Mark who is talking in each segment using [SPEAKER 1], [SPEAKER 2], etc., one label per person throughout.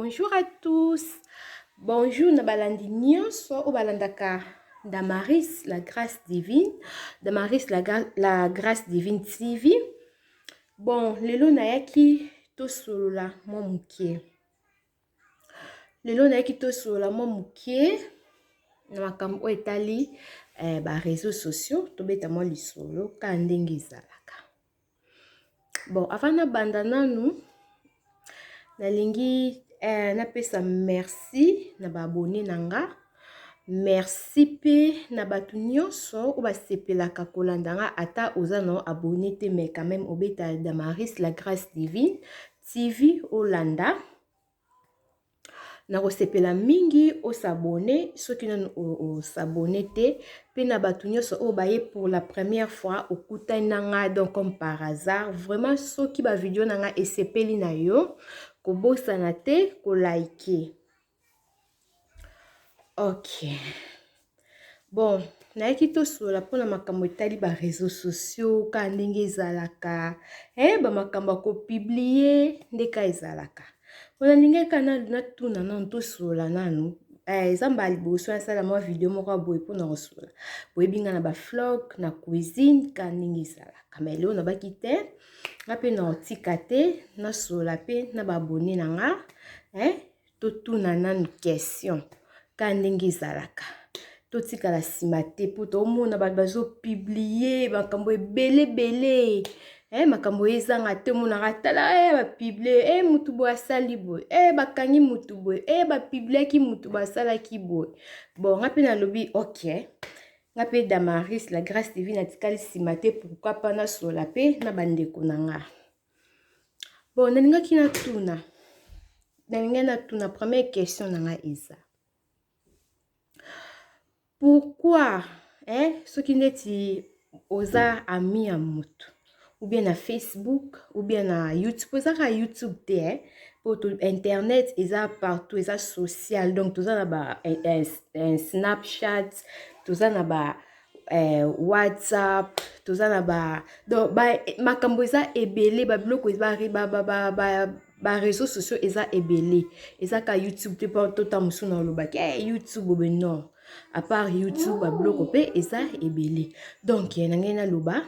[SPEAKER 1] bonjour à tous bonjour na balandi nyonso oyo balandaka damaris la grâce divine damaris la, la grâce divine tv Bon, lelo nayaki tosolola mwa moke. Lelo nayaki tosolola mwa moke na makambo oyo etali eh, ba réseaux sociaux, tobeta mwa lisolo ka ndenge ezalaka. Bon, avant nabanda nanu nalingi eh, napesa merci na baabone na nga merci mpe na bato nyonso oyo basepelaka kolanda nga ata oza na abone te mais quand même obeta damaris la grâce divine tv olanda Nakosepela mingi o s'abonner soki nanu o s'abonner te pe na batu nionso oyo baye pour la première fois okutani na nga donc comme par hasard vraiment soki ba video na nga esepeli na yo kobosana te ko liker ok Bon, nayaki tosolola mpo na makambo etali ba réseaux sociaux kaka ndenge ezalaka eh, ba makambo ya kopiblie nde kaka ezalaka. Mpo nalingaki kaka nanu natuna nanu tosolola nanu eh, eza mbala liboso nasala mwa video moko ya boye mpo na kosolola. Boyebi nga na ba vlog, na cuisine kaka ndenge ezalaka. Mais lelo nabaki te, nga mpe nakotika te nasolola mpe na ba abonnes na nga eh, totuna nanu question ka ndenge ezalaka totikala nsima te mpo tomona bato bazopiblie makambo ebele ebele eh, makambo oyo ezanga te omonaka tala e eh, bapiblie e eh, motu boye asali boye e eh, bakangi motu boye e eh, bapibliaki motu basalaki boye bon nga mpe nalobi ok nga mpe damaris la grace divine atikali nsima te pourkui mpa nasola mpe na bandeko na nga Bon nalingaki natuna nalingi natuna première question na ngai eza pourquoi eh, soki ndeti oza ami ya motu ou bien na facebook ou bien na youtube oza kaka youtube te eh? poto internet eza partout eza social donc toza na ba eh, eh, eh, snapchat toza na ba eh, whatsapp toza na ba donc ba makambo eza ebele ba biloko ba, ba, ba, ba, ba bareseau sociaux eza ebele eza ka youtube te mpo tota mosusu na olobaki hey, eh, youtube obe non apart youtube babiloko mpe eza ebele donc na ngai naloba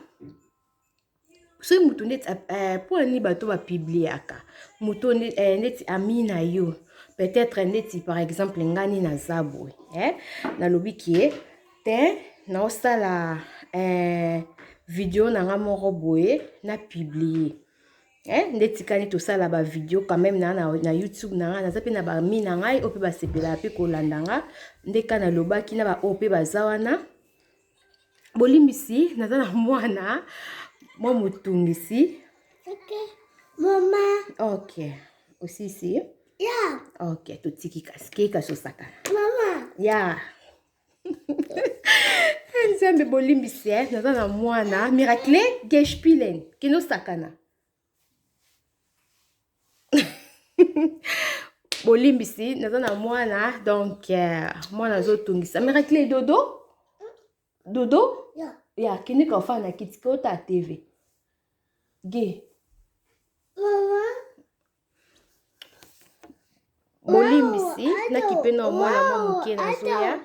[SPEAKER 1] soki moto ndeti eh, mpo na nini bato bapibliaka moto eh, ndeti ami na yo peut-être ndeti par exemple ngani naza boye eh? nalobi kie te naosala eh, video na nga moko boye na publie eh, nde etikali tosala bavideo quand même na, na, na youtube na ngai naza mpe na bami na ngai oyo mpe basepelaka mpe kolanda nga nde ka nalobaki na baoyo mpe baza wana bolimbisi naza na mwana mwa motungisi okay. mama ok osisi yeah. ok totiki kasi ke kasi osakana mama ya yeah. nzambe bolimbisi eh? naza na mwana miracle geshpilen kende osakana bolimbisi naza na mwana donc euh, mwana azotungisa miracle dodo dodo ya yeah. kende kaofa na kiti kota tv ge bolimbisi nakipe na mwana mwa moke nazoya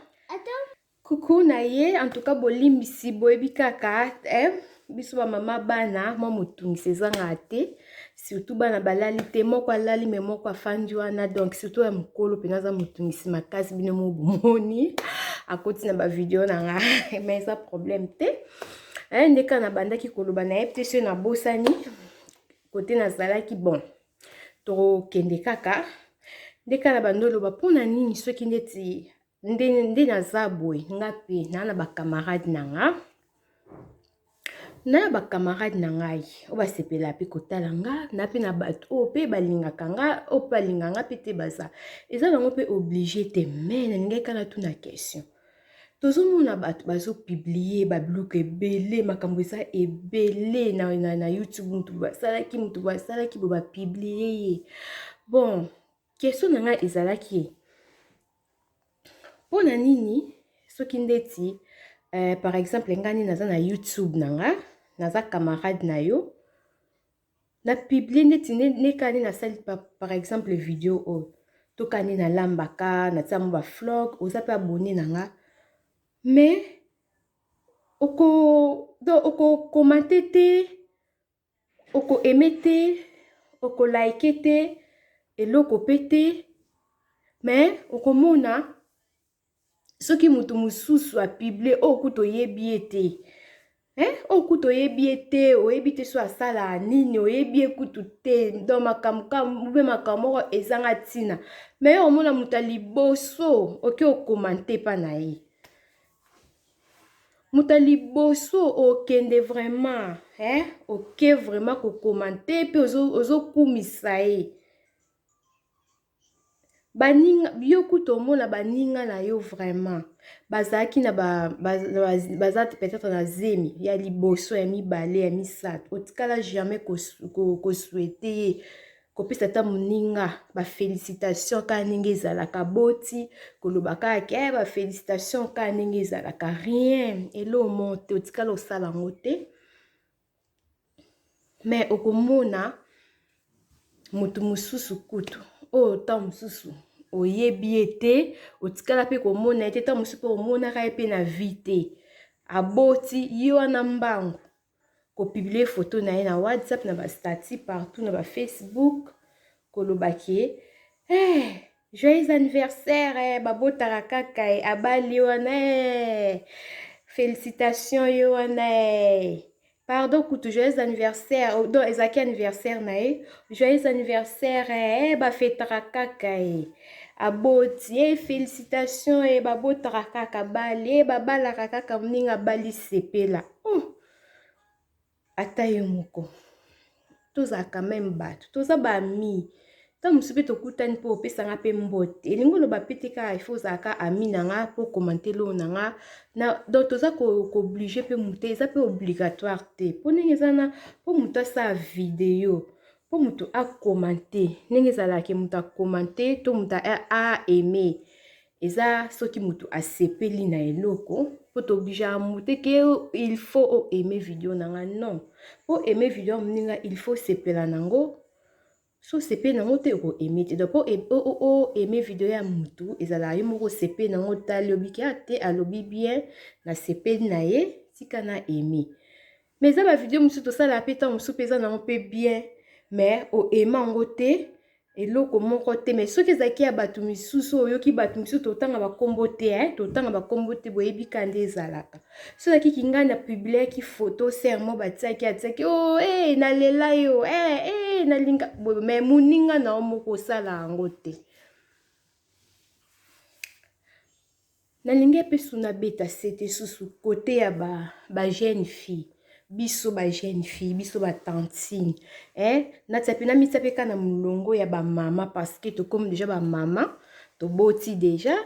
[SPEAKER 1] Coucou na ye en tout cas bolimbisi boyebi kaka eh, biso ba mama bana mwa motungisi ezanga te surtout bana balali te moko alali me moko afandi wana donc surtout ya mokolo mpenza aza motungisi makasi bino mo bomoni akoti na bavideo na nga me eza problème te eh, nde kaka nabandaki koloba na ye mpe soki nabosani kote nazalaki bon tokokende kaka nde kaka nabandi oloba mpo na nini soki ndeti nde nde naza boye nga mpe naa na bacamarade na nga na bacamarade na ngai oyo basepela mpe kotala nga na mpe na bato oyo mpe balingaka nga oyo mpe balinga nga mpe te baza eza bango mpe oblige te me nalingaki kana tuna question tozomona bato bazopiblie babiloko ebele makambo eza ebele na, na, na youtube moto basalaki moto basalaki bo bapiblie ye bon question na ngai ezalaki Pona nini soki ndeti eh, par exemple nga nini naza na YouTube na nga naza camarade na yo na publie ndeti neka nini nasali par exemple video oyo toka nini nalambaka natia mo ba flog oza mpe abonne na nga mais oko donc okokomante te Oko aimer te, oko liker te, eloko pe te. Mais okomona soki mutu mususu a publier oyo kutu oyebi ye te. Hein? Oyo kutu oyebi ye te, oyebi te so asala nini, oyebi ye kutu te. Donc makambo ka mube makambo moko ezanga tina. Mais yo omona mutu ya liboso oke o commenter pa na ye. muta liboso okende vraiment hein oke vraiment ko commenter pe ozo ozo kumisa ye baninga yo kutu omona baninga na yo vraiment bazalaki na ba baza peut-etre na zemi ya liboso ya mibale ya misato otikala jamais ko ko souhaite ye kopesa ata moninga bafelicitation kaka ndenge ezalaka boti koloba kaka ke eh, bafelicitation kaka ndenge ezalaka rien elo monte otikala osala yango te me okomona moto mosusu kutu oyo oh, ntango mosusu oyebi ye te otikala mpe komona ye te ntango mosusu mpe omonaka ye mpe na vi te aboti ye wana mbangu ko publier photo na ye na WhatsApp na ba statut partout na ba Facebook koloba ke eh joyeux anniversaire eh, babotaka kaka eh, abali wana eh, félicitation yo wana eh. pardon kutu joyeux anniversaire oh, donc ezalaki anniversaire na ye joyeux anniversaire eh, bafetaka kaka eh. aboti e eh, félicitation e eh, babotaka kaka bali e eh, babalaka kaka moninga abali sepela oh! ata ye moko tozala quand meme bato toza baami ntango mosusu mpe tokutani mpo opesa nga mpe mbote elingi oloba mpe te kaka ifo ozala ka ami na nga mpo okomante loo na nga na donc toza kooblige mpe moto eza mpe obligatoire te mpo ndenge eza na mpo moto asala video mpo moto akomante ndenge ezalaki moto akomante to moto a aime eza soki mutu asepeli na eloko po tobija mute ke il faut o aime video na nga non po aime video ya moninga il faut sepela nango so sepeli nango te oko aime te donc po o aime video ya mutu ezalaka yo moko sepeli nango tali obiki a te alobi bien na sepeli na ye tika na aime mais eza ba video mosusu tosalaka mpe ntango mosusu mpe eza nango mpe bien mais oaima yango te eloko moko te mais soki ezalaki ya bato misusu oyoki bato misusu totanga bakombo te eh? totanga bakombo te boyebi ka nde ezalaka so ezalaki kingai na publiaki photo sermo batiaki atiaki o oh, hey, eh, nalela yo hey, eh, hey, eh, nalinga mais moninga na yo moko osala yango te Nalingi pe sous na beta sete susu cote ya ba ba jeune fille biso ba jeune fille biso ba tantine eh natia pe namitia pe ka na mulongo ya ba mama parce que tokomi deja ba mama toboti deja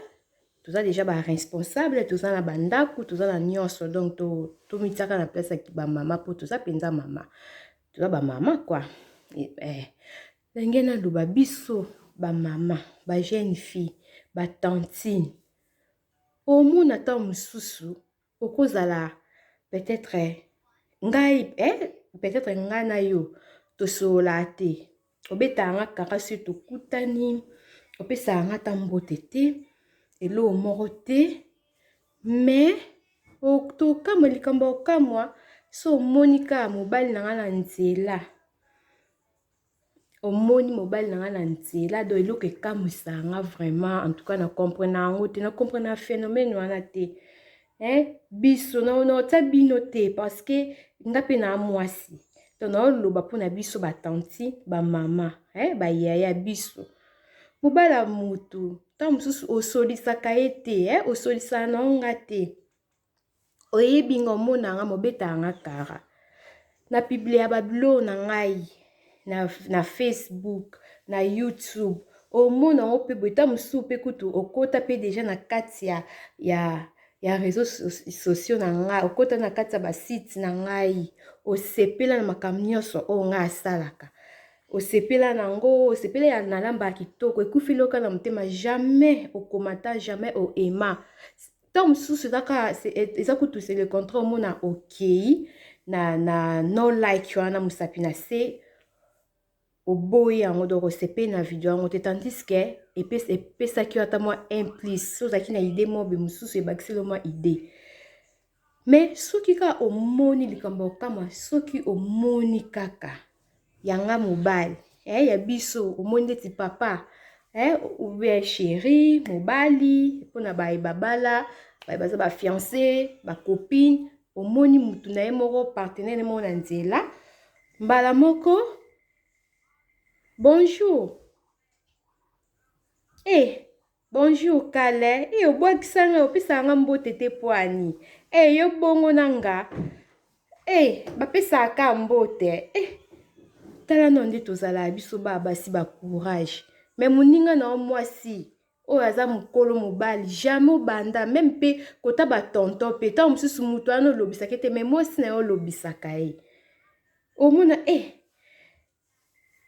[SPEAKER 1] toza deja ba responsable toza na ba ndaku toza na nionso donc to tomitiaka na place ya ba mama po toza penza mama toza ba mama quoi eh Ndenge naloba biso ba mama, ba jeune fille, ba tantine omona ntango mosusu okozala peut-etre ngai eh, peut-etre ngai na yo tosololaka te obetaka nga kaka soki tokutani opesaka nga ata mbote te eloo moko te mais tokamwa likambo ya kokamwa so omoni kaka mobali na ngai na nzela omoni mobali na nga na nzela do eloko ekamwisa nga vraiment en tout cas na comprena yango te na comprena phénomène wana te eh, biso naotya bino te parce que nga mpe na mwasi to naoloba mpo na biso batanti bamama eh, bayaya biso mobala motu ntango mosusu osolisaka ye te eh, osolisaka na yango nga te Oyebi nga omona nga mobeta nga kara na publia ba bilo na ngai na, na Facebook na YouTube omona yango mpe boye ntango mosusu mpe kutu okota mpe deja na kati ya, ya, ya réseau sociaux na ngai okota na kati ya basite na ngai osepela na makambo nyonso oyo ngai asalaka osepela na yango osepela ya nalamba ya kitoko ekufi loka na motema jamais okomata jamais oema ntango mosusu kaka eza kutu se le contraire omona okei na, na no like wana mosapi na se oboyi yango donc osepeli na video yango te tandis ke epesaki yo ata mwa un plus so ozalaki na idee mobe mosusu ebakiseli yo mwa idee mais soki kaka omoni likambo ya kokama soki omoni kaka ya nga mobali eh, ya biso omoni ndeti papa eh, ou bien chéri mobali mpona baye babala baye baza bafiance bacopine omoni motu na ye moko partenaire moko na nzela mbala moko bonjour eh, Bonjour kalle eh obwakisa nga opesaka nga mbote te pwani eh yo bongo na nga eh bapesaka ka mbote eh tala no nde tozalaka biso ba basi ba courage me moninga na yo mwasi oyo aza mokolo mobali jamais obanda meme mpe kota batonto mpe ntango mosusu moto wana olobisaka ete me mwasi na yo olobisaka ye omona e eh,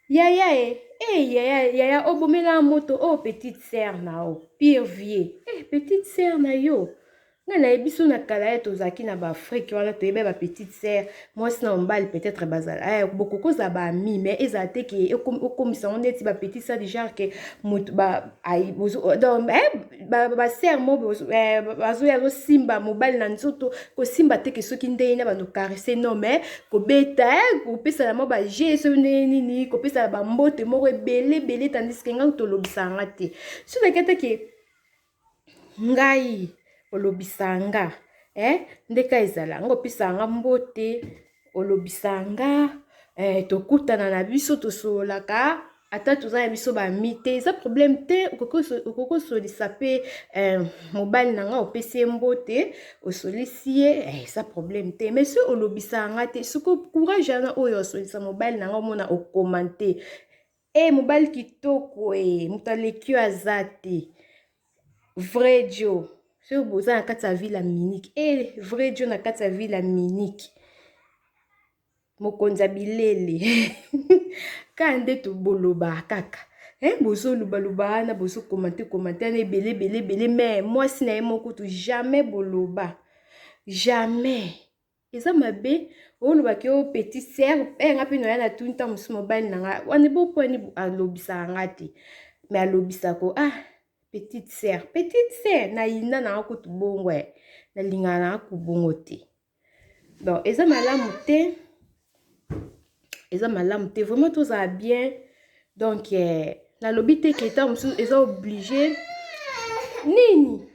[SPEAKER 1] Yaya eh eh yaya yaya o bomela nga moto oh petite sœur na yo pire vie eh petite sœur na yo nga na ye biso na kala ye tozalaki na ba Afrique wana toyeba ba petite sœur mwasi na mobali peut-être bazala eh bokoki kozala ba amis mais ezala te ke okomisa ngo neti ba petite sœur du genre ke moto ba ayi bozo oh, donc eh, ba, ba sœur mo bozo eh, bazo ya simba mobali na nzoto ko simba te ke soki ndenge na bando caresser non mais ko beta eh, ko pesa na mo ba jeu so ndenge nini ko pesa ba mbote moko ebele bele tandis que ngai to lobisa nga te so na kete ke ngai olobisa nga eh ndeka ezala ngo pesa nga mbote olobisa nga eh, tokutana na biso tosololaka ata toza na biso bami te eza problème te okoki osolisa mpe eh, mobali na nga opesi ye mbote osolisi ye eh, eza problème te mais soki olobisaka nga te soki courage yana oyo osolisa mobali na nga omona okomante Hey, eh, mobali kitoko ee eh, moto aleki yo aza te vrai jo soki boza na kati ya ville ya minike e eh, vrai jo na kati ya ville ya minike mokonzi ya bilele kaka nde tobolobaka kaka eh, bozolobaloba wana bozokomante komante wana ebele ebele ebele mai mwasi na ye moko tu jamais boloba jamais eza mabe oloba ke o petit sœur eh nga pe noya na tuni ta mosusu mobali na nga wana bo pwani alobisaka nga te me alobisako ah petite sœur petite sœur na yinda na nga kutu bongo eh na lingaka na nga ku bongo te donc eza malamu te eza malamu te vraiment tozala bien donc eh, nalobi te ke ta mosusu eza oblige nini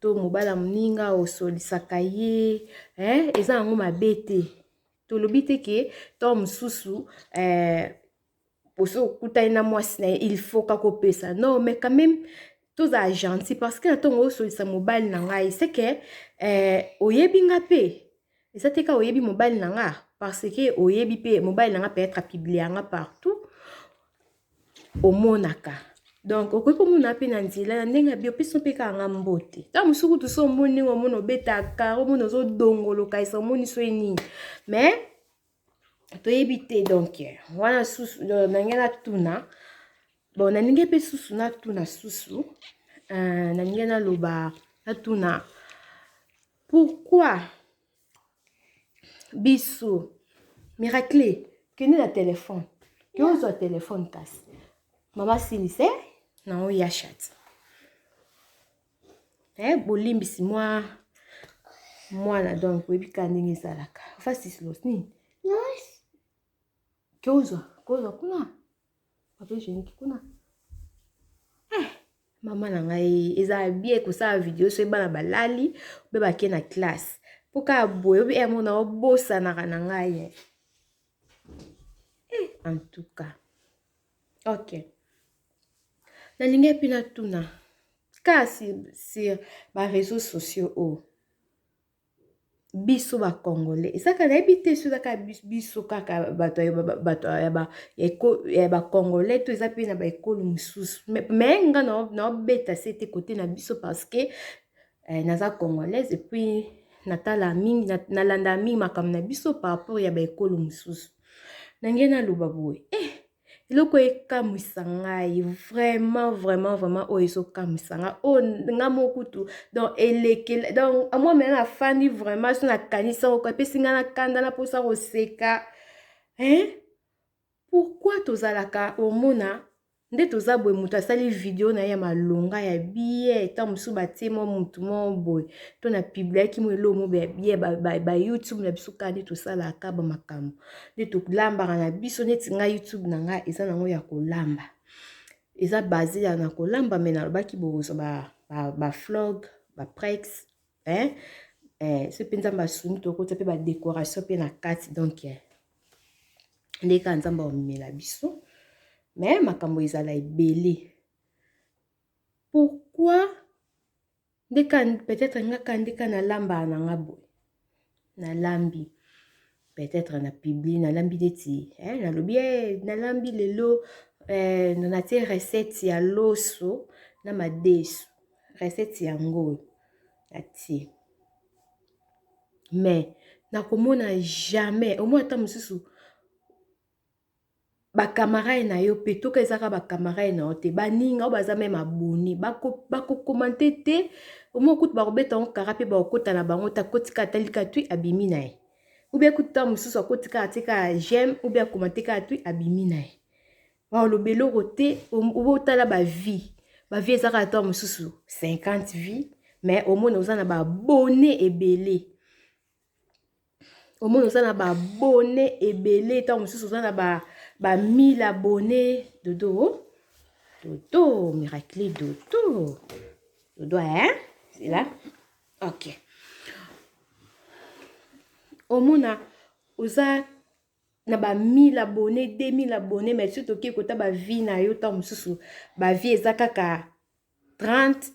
[SPEAKER 1] to mobala moninga osolisaka ye eh, eza yango mabe te tolobi te ke to mosusu eh, osi okutani na mwasi na ye il faut kakopesa non mais quand même tozala gentil parce que na ntongo osolisa mobali na ngai seke eh, oyebi nga mpe eza te ka oyebi mobali na nga parce que oyebi mpe mobali na nga peut-être apiblia nga partout omonaka donc okoki komona mpe na nzela na ndenge ya biopesi mpe kaka nga mbote ntango mosusu kutu so omoni ndenge omoni obetaka omoni ozodongoloka esa omoni soki nini mais toyebi te donc wana susu nange natuna bon nalingi mpe susu natuna susu euh, nalingi naloba natuna pourquoi Bisou miracle kende na telefone ke ozwa telefone kasi mama silise na oya shati eh, bolimbisi mwa mwana donc oyebi kaka ndenge ezalaka ofasislos nini ke ozwa kozwa kuna Papa hygiénique kuna. Eh, mama na ngai eza bien kosala video soki bana balali mpe bake na classe mpo kaka boye obi emo eh, na obosanaka na ngai eh. eh, en tout cas ok nalingi mpe natuna kasi sur bareseau sociaux oyo oh. biso ba congolais ezaka nayebi te so ezaka biso kaka bato bato ya ba congolais to eza mpe na ba ekolo mosusu me nga naobeta se te kote na biso parce que eh, naza congolaise epuis natala mingi nalanda mingi makambo na biso par rapport ya ba ekolo mosusu na ngai naloba boye eh, eloko ekamwisa ngai vraiment vraiment vraiment oyo ezokamwisa ngai oyo oh, nga mo kutu donc elekela donc amwa mena nafandi vraiment so nakanisa oko epesi ngai na kanda na mposa koseka hein pourkui tozalaka omona nde toza boye moto asali video na ye ya malonga ya biye ta mosusu batie mwa motu moko boye to na pibliaki mo eloo mo ya biye bayoutube na biso kaka nde tosalaka bamakambo nde tolambaka na biso neti ngai youtube na ngai eza nango ya kolamba eza base ya na kolamba me nalobaki bokozwa baflog ba, ba baprex eh? eh, so mpe nzambe asungi tokotya mpe badekoration mpe na kati donk eh. nde kaka nzambe aomemela biso me makambo ezala ebele pourkui Nde ka peut-être nga kandi ka na lamba na nga boye. Na lambi. Peut-être na publi na lambi neti eh na lobi eh na lambi lelo eh na tie recette ya loso na madesu. Recette yango na tie. Mais nakomona jamais au moins ata mosusu ba camarade na yo mpe toka ezaka ba camarade na yo te baninga oyo baza meme aboni bakokomante bako te omoi kutu bakobeta yango kara mpe bakokota na bango te akotika ata lika twi abimi na ye ubia kutu ntango mosusu akotika atika j'aime ubia akomante kaka twi abimi na ye baoloba eloko te obotala bavie bavie ezaka ata mosusu 50 vie mais omona oza na baabone ebele omoni oza na ba bone ebele ntango mosusu oza na ba mile ya bone dodo dodo miracli dodo dodo e zela ok omona oza na ba 1000 abone 2000 abone mai soki toke kota bavie na yo ntango mosusu bavie eza kaka 30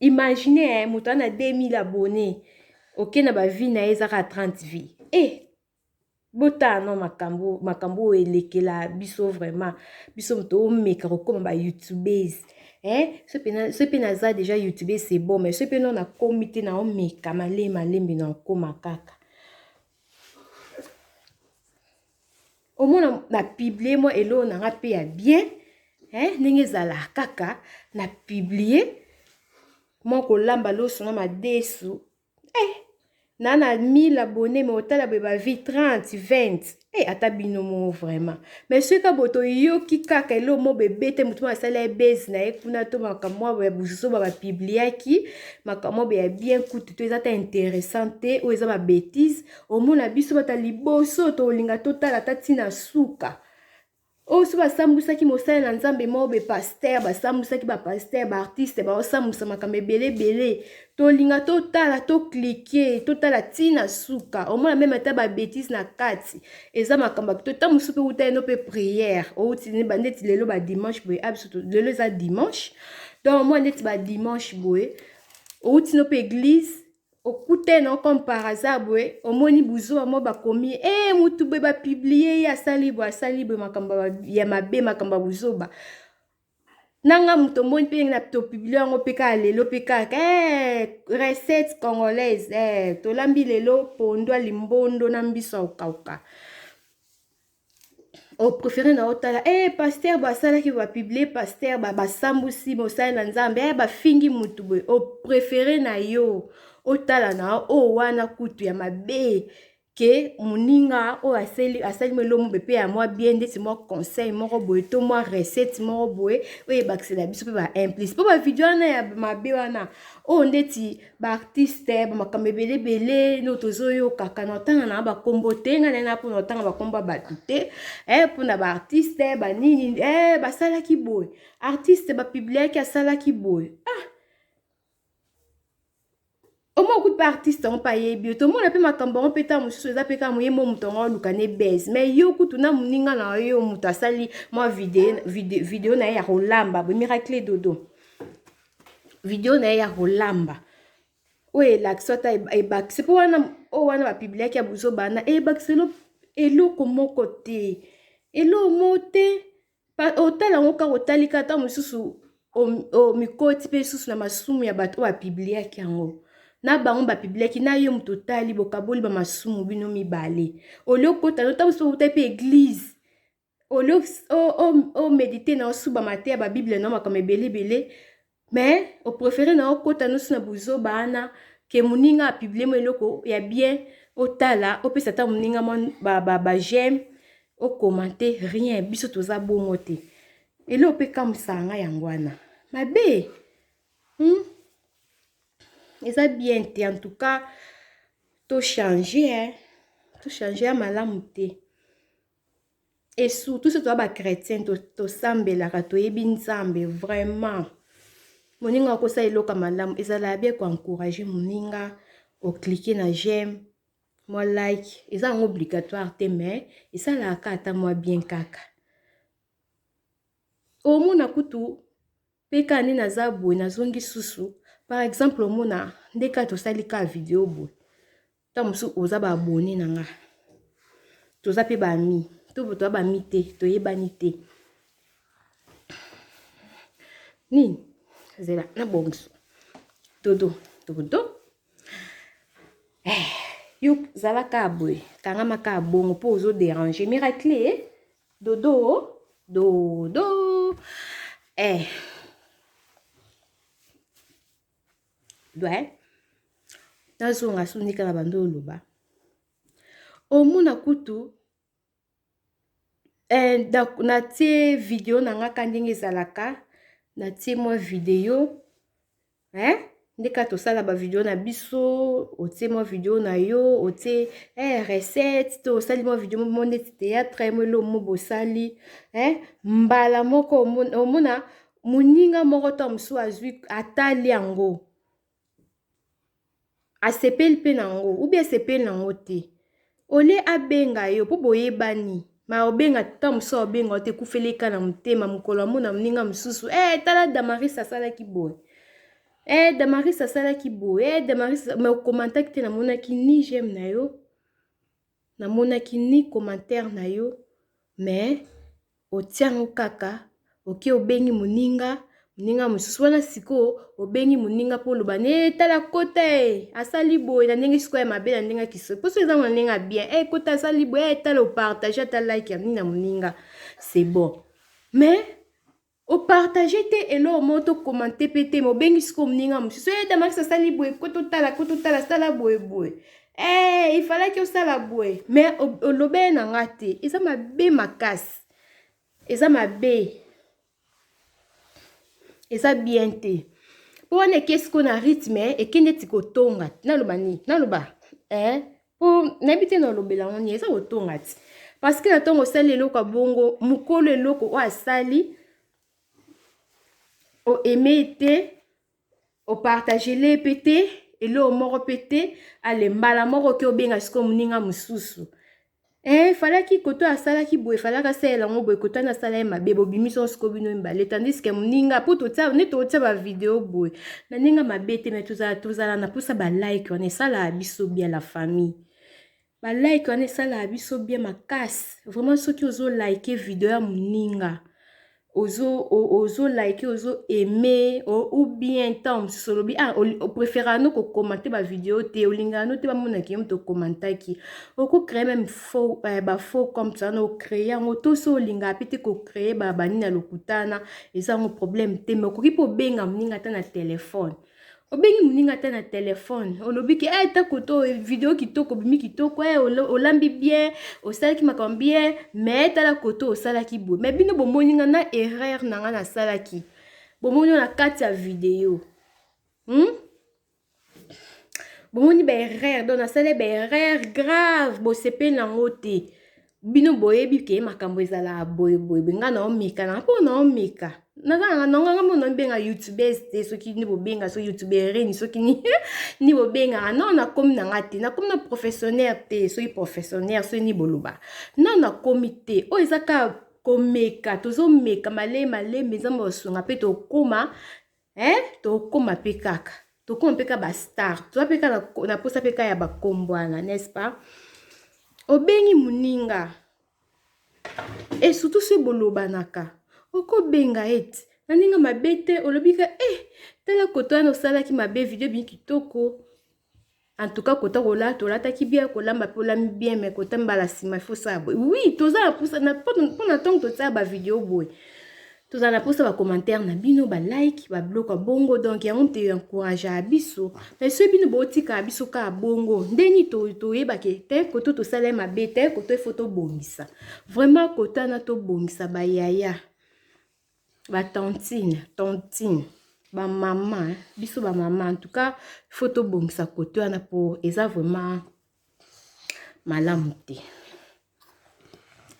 [SPEAKER 1] Imaginez hein, moto a na 2000 abonnés. Ok na ba vie na ye eza kaka 30 vie. Eh botala no makambo makambo oyo elekela biso vraiment biso moto omeka kokoma ba youtubes eh soki mpe naza deja youtube c'est bon mais soki mpe no nakomi te na omeka malembe malembe na okoma kaka omona na publie mwa eloo na nga mpe ya bien eh, ndenge ezala kaka na publie mwa kolamba loso na madesu eh, na na 1000 abonne me otala boye bavie 30 20 eh, ata bino moo vraiment me soki ka boye toyoki kaka eloo mo bebe te motu mo asali ya base na ye kuna to makambo mwa ya buzoba bapibliaki makambo mwa ya bien kutu to eza ta interessant te oyo eza babetise omona biso bata liboso tolinga totala ata ntina suka oyo so basambwisaki mosali na nzambe mobe paster basambwisaki bapaster baartiste baosambwisa makambo ebele ebele tolinga totala toklike totala ntina suka omona meme ata babetise na kati eza makambo akito ntango mosusu mpe uta yeno mpe priere outi ndeti lelo badimanche boye abiso ah, lelo eza dimanche donc omona ndeti badimanche boye outi no mpe eglise okute no comme par hasard boye omoni buzoba mo bakomi ye ee eh, mutu boye bapiblie ye asali boye asali boye makambo ya mabe makambo ya buzoba nanga moto omoni mpe na topiblie yango mpe kaka lelo mpe kaka eh, recette congolaise eh, tolambi lelo pondwa limbondo na mbiso ya kokauka oprefere na otala e eh, paster basalaki bapiblie paster basambusi mosali na nzambe e bafingi motu boye oprefere na yo otala na oyo oh, wana kutu ya mabe ke moninga oyo asali, asali mwa elombe mpe ya mwa bien ndeti mwa conseil moko boye to mwa recette moko boye oyo ebakisela biso mpe baimplice mpo bavideo wana ya mabe wana oyo ndeti ba artiste ba makambo ebele ebele no tozoyokaka na otanga na bakombo te nga nena mpona otanga bakombo ya bato te eh, mpona ba artiste banini eh, basalaki boye artiste bapibliaki asalaki boye ah. omo okuti mpe artiste yango mpe ayebi yo tomona mpe makambo yango mpe ntango mosusu eza mpe kaka moye mo moto yango aluka ne base mai yo kutu na moninga na yo moto asali mwa video, video, video na ye ya kolamba boye miracle dodo video na ye ya kolamba oyo elakisi ata ebakisi mpo wana oyo wana bapibliaki ya buzoba na ebakisi eloko moko te eloko moko te otala yango kaka otalika ata mosusu omikoti mpe lisusu na masumu ya bato oyo bapibliaki yango na bango bapibliaki na yo moto otali bokaboli bamasumu bino mibale olio kota no ntango mosusu outai mpe eglize omedite na osuba mateya babiblia na makambo ebele ebele me oprefere na okota nosi na buzoba ana ke moninga apiblie mo eloko ya bien otala opesa ata moninga mwa bajeme ba, ba okomante rien biso toza bongo te eloko mpe kamwisaka ngai yango wana mabe hmm? eza bien te en tout cas tochange tochange ya malamu te et surtout soki toza ba chrétien tosambelaka to toyebi nzambe vraiment moninga akosala eloko ya malamu ezala bien koencourage moninga oklike na j'aime mwa like eza yango obligatoire te mais esalaka ata mwa bien kaka omona kutu Pe kaka nde naza boye nazongi susu par exemple omona nde kaka tosali kaka video boye ntango mosusu oza ba abonne na nga toza pe ba ami to toza ba ami te toyebani te nini zela na bongiso dodo dodo eh, yo zala kaka boye kangama kaka bongo mpo ozo derange miracle eh? Dodo dodo eh ouais nazonga sunika na bando oloba omona kutu eh, natie video na ngaka ndenge ezalaka natie mwa video hein nde kaka tosala bavideo na biso otie mwa video na yo otie eh, recette to osali mwa video mo neti théâtre mo eloo mo bosali eh, mbala moko omona moninga moko to mosusu azwi atali yango asepeli mpe na yango ubi asepeli na yango te ole abenga yo mpo boyebani ma obenga ta mosusu aobenga ote ekufeleka na motema mokolo amona moninga mosusu e eh, hey, tala damaris asalaki boye e eh, hey, damaris asalaki boye e eh, hey, damaris ma okomantaki te namonaki ni jeme na yo Na monaki ni commentaire na yo mais otia yango kaka oke obengi moninga moninga mosusu wana sikoyo obengi moninga mpo oloba ne eh, tala kota e eh, asali boye na ndenge sikoyo ya mabe na ndenge ya kiso mposo eza na ndenge ya bien e eh, kota asali boye e tala opartage ata like ya nini na moninga c'est bon mais O partager te eloko moko to commenter pe te mais obengi sikoyo moninga mosusu ee eh, Damaris asali boye ko totala ko totala sala boye boye ee eh, il fallaki osala boye mais olobele na nga te eza mabe makasi eza mabe eza bien te mpo wana eke sikoyo na rythme eke neti kotonga naloba nini naloba eh? po nayebi te na olobela yango nini eza kotonga ti parce que na ntongo osali eloko ya bongo mokolo eloko oyo asali oaime te opartagele mpe te eloko moko mpe te ale mbala moko oke obenga sikoyo moninga mosusu Eh, falaki koto asalaki boye falaki asalela yango boye koto ani asala ye mabe bobimisi yango sikoyo bino mibale tandiske moninga mpo totia neti otia bavideo boye na ndenge mabe te me tozala tozala na mposa balike wana esalaka biso bia la famille balike wana esalaka biso bia makasi vraiment soki ozolike video ya moninga ozo ozo like ozo aime ou bien ntango mosusu olobi ah opréféraka no kokomante bavideo te olingaka no te bamonaki yo moto okomantaki okocree meme faux eh, bafaux comme ça na ocree yango to so olingaka mpe te kocree banini ya lokutana eza yango problème te mais okoki mpe obenga moninga ata na telefone obengi moninga ata na telefone olobi ke eh, tako to video kitoko obimi kitoko eh, olambi bien osalaki makambo bien mais tala koto osalaki boye mais bino bomoni nga na erreur na nga nasalaki bomoni na kati ya video hmm? bomoni ba erreur donc nasali ba erreur grave bosepeli na yango te bino boyebi ke makambo ezalaka boye boye boye ngai naomeka na mpo naomeka nazalaka nonganga mpo naobenga youtubes te soki nde bobenga so youtubereni soki nde bobengaka non nakomi na ngai te nakomi na professionnaire te soki professionnaire soki nde boloba non nakomi te oyo eza kaka komeka tozomeka male malembe nzambe osunga mpe tokóma eh tokoma pe kaka tokoma mpe ka bastar toza mpe ka na mposa mpe ka ya bakombwana n'est-ce pas obengi moninga e surtout soki bolobanaka okobenga ete na ndenge mabe te olobi ka e eh, tala koto wana osalaki mabe video ebimi kitoko En tout cas, kota kola, tolataki bien, kolamba pe olami bien, mais kota mbala sima, il faut ça. Oui, toza na pousa, na pona tango totia ba vidéo boy. Toza na pousa ba commentaires na bino, ba like, ba bloc a bongo, donc yango te encourage a biso. Mais ceux bino bo tika biso ka bongo. Ndeni to to yeba ke te koto to sala ma bete, koto photo bongisa. Vraiment kota na to bongisa ba yaya. ba tantine tantine ba mama hein? biso ba mama en tout cas il faut tobongisa kote wana po eza vraiment malamu te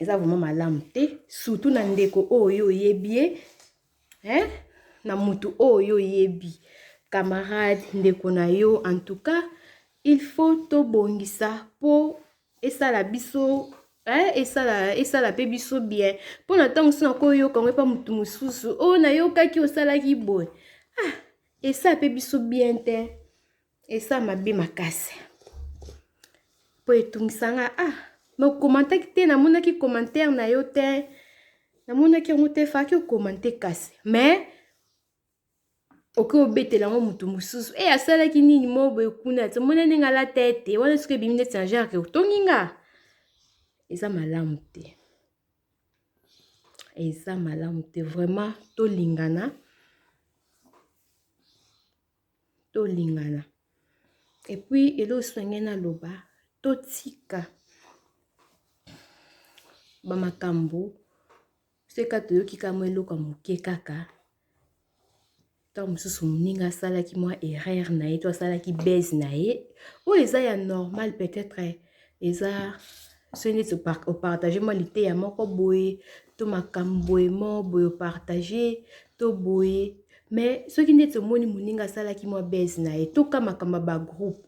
[SPEAKER 1] eza vraiment malamu te surtout na ndeko oyo oyebi ye hein? na motu oyo oyebi camarade ndeko na yo en tout cas il faut tobongisa po esala biso eh, esala esala mpe biso bien mpo na ntango mosusu nakoyoka yango epa motu mosusu oyo oh, nayokaki osalaki boye ah, esala mpe biso bien te esala mabe makasi mpo etungisa nga ah nokomantaki te namonaki commentaire na yo te namonaki yango te faki okomante kasi mais okoki obetela yango motu mosusu e asalaki nini mo boye kuna ti omoni ndenge alata ete wana soki ebimi neti na jarke otongi nga eza malamu te eza malamu te vraiment tolingana tolingana epuis elosenge naloba totika bamakambo Seka toyoki ka mwa eloko ya moke kaka ntango mosusu moninga asalaki mwa erreur na ye to asalaki base na ye oyo eza ya normal peut-être eza soki neti opartage mwa liteya moko boye to makambo boye mo boye opartage to boye mais soki neti omoni moninga asalaki mwa base na ye to ka makambo ya bagroupe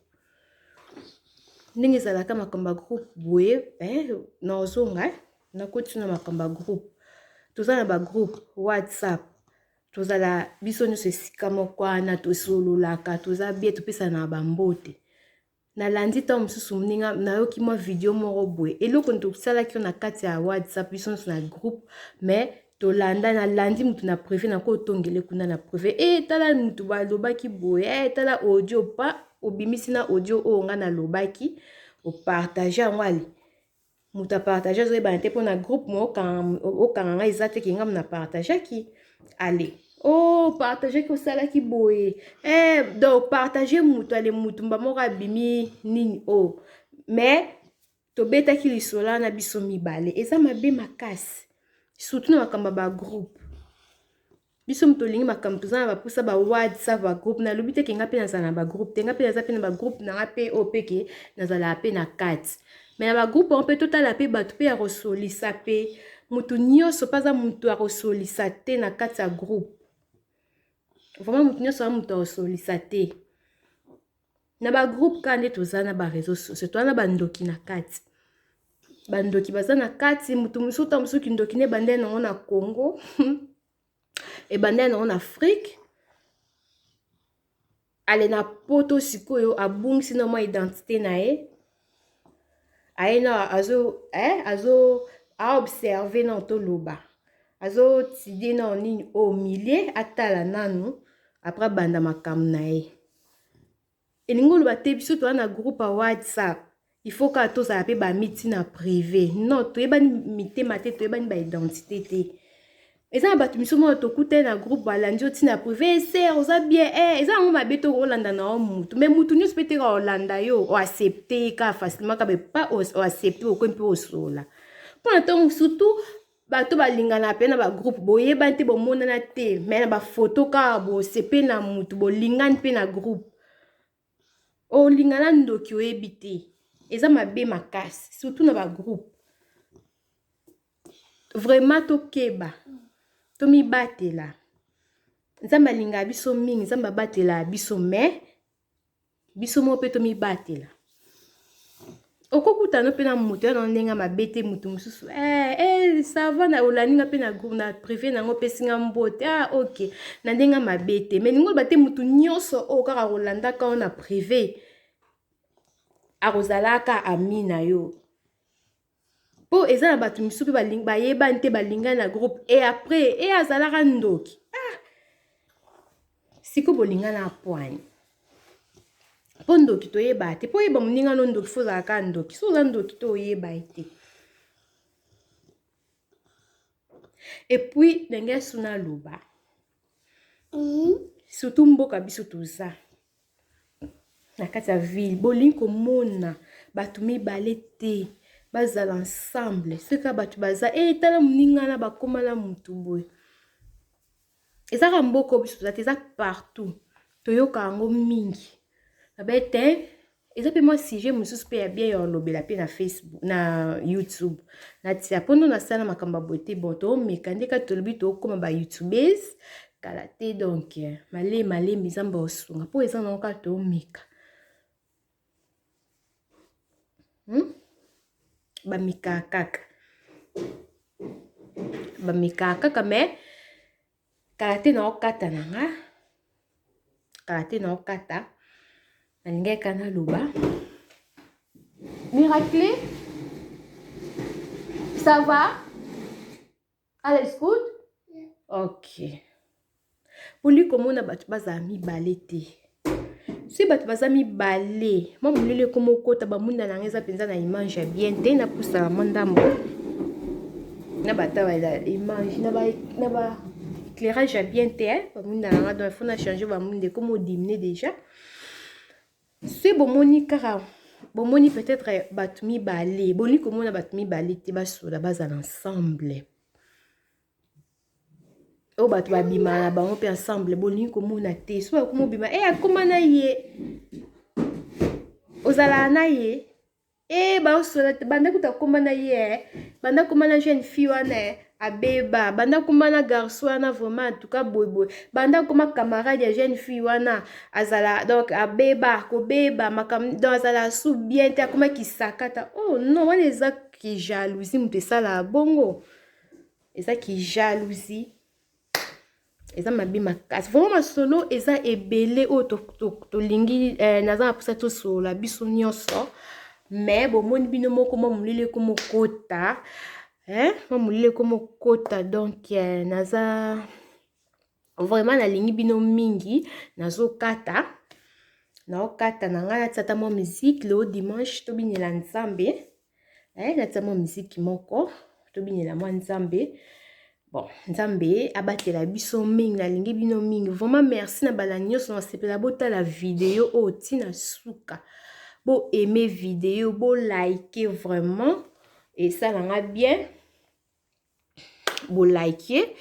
[SPEAKER 1] ndenge ezalaka makambo ya groupe boye eh, nazonga eh? Nakoti na makambo ya groupe. Toza na ba groupe WhatsApp. Tozala biso nyonso esika moko wana tosololaka toza bie topesanaka ba mbote. Nalandi ntango mosusu moninga nayoki mwa video moko boye eloko nini tosalaki na kati ya WhatsApp biso nyonso na groupe mais tolanda nalandi motu na prive nakotongele kuna na prive e tala motu balobaki boye e tala audio pa obimisi na audio oyo ngai nalobaki opartage yango ale mutu a partage azo yebana te pona groupe mo okanga nga eza te ke nga muna partageaki ale oh partage ki osalaki boye eh donc partage mutu ale mutu mba moko abimi nini oh mais tobetaki lisola na biso mibale eza mabe makasi surtout na makambo ya bagroupe biso moto olingi makambo toza na bapusa ba whatsapp ba groupe nalobi te ke nga mpe nazala na bagroupe te nga mpe naza mpe na bagroupe na nga mpe oyo mpe ke nazalaka mpe na kati me na bagroupe yango mpe totala mpe bato mpe ya kosolisa mpe moto nyonso mpe aza moto ya kosolisa te na kati ya groupe vraimen moto nyonso aza moto ya kosolisa te na ba groupe ka nde toza na ba réseaux sociaux toza na ba ndoki na kati ba ndoki baza na kati moto mosusu ata mosusu kindoki nde ebandai nango na Congo ebandai nango na Afrique ale na poto sikoyo abungisi na mwa identité na ye aye na azo eh azo a observer na toloba azo tidie na nini au oh, milieu atala nanu après abanda makambo na ye elingi oloba te biso toza na groupe ya whatsapp il faut kaka tozala mpe bamiti na prive non toyebani mitema te toyebani baidentité te eza na bato misusu moko tokutani na groupe balandi yo ntina ya prive eh, ser oza bien eh, eza yango mabe to olanda na yo mutu mais mutu nyonso mpe teka olanda yo oaccepte ye kaka facilement kaka pa oaccepte okoi mpe osola mpo na ntango surtout bato balingana mpe na bagroupe boyebani te bomonana te mai na bafoto kaka bosepeli na mutu bolingani mpe na groupe olinga na ndoki oyebi te eza mabe makasi surtout na bagroupe vraiment tokeba tomibatela nzambe alingaka biso mingi nzambe abatela biso mai biso moko mpe tomibatela okokutana mpe na moto ya na ndenge ya mabe te moto mosusu eh, eh, sava na olandi nga mpe na groupe na privé na yango opesi nga mbote ah ok na ndenge ya mabe te mai ningo loba te moto nyonso oyo oh, kaka kolandaka yo na privé akozalaka ami na yo mpo eza na bato mosusu mpe bayebani te balingani na groupe e après e azalaka ndoki siko bolinga na apwani mpo ndoki toyeba te mpo oyeba moninga no ndoki fo ozala kaka ndoki so oza ndoki to oyeba ye te epuis ndenge ya suna aloba mhm. surtout mboka biso toza na kati ya ville bolingi komona bato mibale te bazala ensemble soki kaka bato baza e tala moninga na bakoma na motu boye eza kaka mboka oyo biso toza te eza partout toyoka yango mingi babe te eza mpe mwa sujet mosusu mpe ya bien ya olobela mpe na facebook na youtube natia mpo ndo nasala na makambo ya boye te bon toomeka nde kati tolobi tookóma ba youtubes kala te donk malee malembe nzambe osunga mpo eza nango kaka toomeka hmm? bamekaa kaka bamekaa kaka me kala te na okata na nga kala te na okata nalingaki ka naloba miracle ça va Ala is good? Yeah. Okay. Poli komona bato bazala mibale te. soki bato baza mibale mwa molili ekoma okota bamunda na yango eza mpenza na image ya bien te napusaka mwa ndambo na bataba image na ba éclairage ya bien te bamunda na nga donc fo na change bamunda ekoma odimine déjà se bomoni kaka bomoni peut-être bato mibale bolingi komona bato mibale te basola bazala ensemble oyo bato babima na bango mpe ensemble bolingi komona te so bakomi obima e eh, akoma na ye ozalaka na ye Eh baosola te banda kuta komba na ye eh. banda komba na jeune fille wana eh. abeba banda komba na garçon wana vraiment antuka boyeboye banda koma camarade ya jeune fille wana azala donc abeba kobeba makambo donc azala su bien te akoma kisakata oh non wana eza kijalousie moto esalaka bongo eza kijalousie eza mabe makasi vraimen masolo eza ebele oyo tolingi to, to, to eh, naza na mposa tosolola biso nyonso me bomoni bino moko mwa molili ekomokota eh, mwa molili ekomokota donk eh, naza vraiment nalingi bino mingi nazokata naokata na ngai natisa ata mwa miziki leo dimanche tobinela nzambe Eh, natia mwa miziki moko tobinela mwa nzambe bon nzambe abatela biso mingi nalingi bino mingi vraiment merci na bala nyonso nasepela botala video oyo ntina suka bo aime video bo like vraiment esala nga bien bo like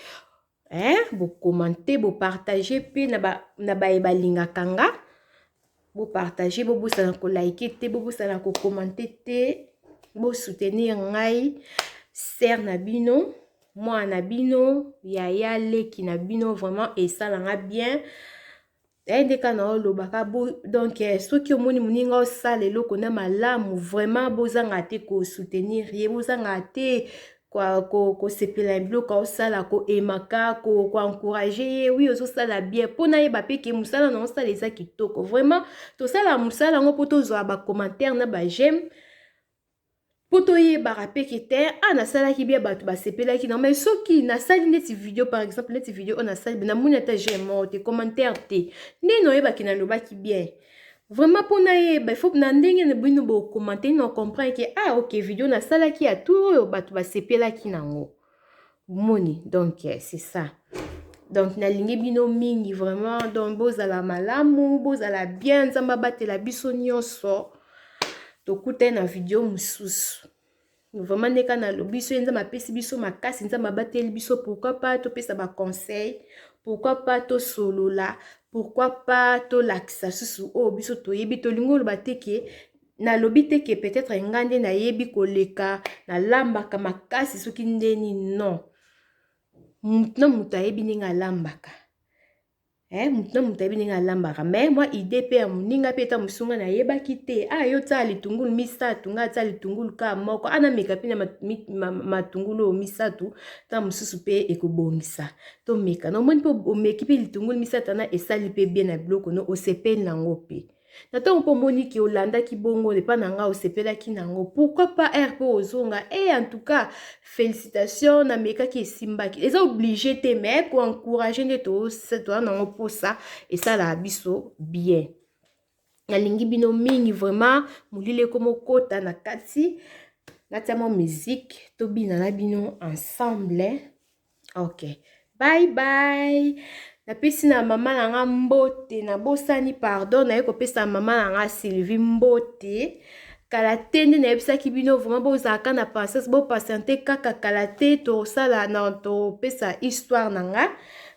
[SPEAKER 1] hein bo commenter bo partager pe na ba na baye balingaka nga bo partager bobosana ko like te bobosana ko commenter te bo soutenir ngai sœur na bino mwana na bino yaya leki na bino vraiment esala nga bien yaye nde kaka na olobaka donc eh, soki omoni moninga osala eloko na malamu vraiment bozanga te kosoutenir ye bozanga te kosepela ko, ko biloko aosala koemaka koencourage ko ye wi ozosala bien mpo nayeba mpe ke mosala na osala eza kitoko vraiment tosala mosala yango mpo tozwa bacommentaire na bageme mpo toyebaka mpe ke te a ah, nasalaki bia bato basepelaki na mai soki nasali ndeti video par exemple ndeti video oyo nasali be namoni ata jeme moko te commentaire te ndeni oyebaki nalobaki bien vraiment mpo nayeba ifo na ndenge na bino bokomante na comprendre ke a ah, ok video nasalaki ya tour oyo bato basepelaki nango omoni donc eh, c'est ça donc nalingi bino mingi vraiment donc bozala malamu bozala bien nzambe abatela biso nyonso tokutani na video mosusu vraiment nde kaka nalobi so ye nzambe apesi biso makasi nzambe abateli biso pourquoi pas topesa baconseil pourquoi pas tosolola pourquoi pas tolakisa susu oyo oh, biso toyebi tolingi oloba te ke nalobi te ke peut-être nga nde nayebi koleka nalambaka makasi soki ndeni non motu na motu ayebi ndenge alambaka eh, motu na motu ayebi ndenge alambaka me mwa ide mpe ya moninga mpe ta mosusu ngai nayebaki te a ah, yo otyala litungulu misato ngai atya litungulu ka moko ana ah, meka mpe na matungulu oyo misato ta mosusu mpe ekobongisa tomeka na omoni mpe omeki mpe litungulu misato ana esali mpe bie na biloko no osepeli na yango mpe Na ntango mpo omoni ke olandaki bongo epai na ngai osepelaki na yango pourquoi pas heure mpo ozonga e eh, en tout cas félicitation namekaki esimbaki eza oblige te mais ko encourage nde toza na yango mposa esalaka biso bien nalingi bino mingi vraiment molili ekomokota na kati natia mwa musique tobina na bino ensemble ok bye bye napesi na mama na nga mbote nabosani pardon naye kopesa mama na nga sylvie mbote kala te nde nayebisaki bino vraimen bozalaka na patience bopatiente kaka kala te tosala na topesa histoire na nga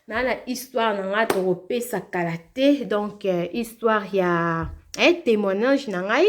[SPEAKER 1] naa na histoire na nga tokopesa kala te donc euh, histoire ya eh, témoignage na ngai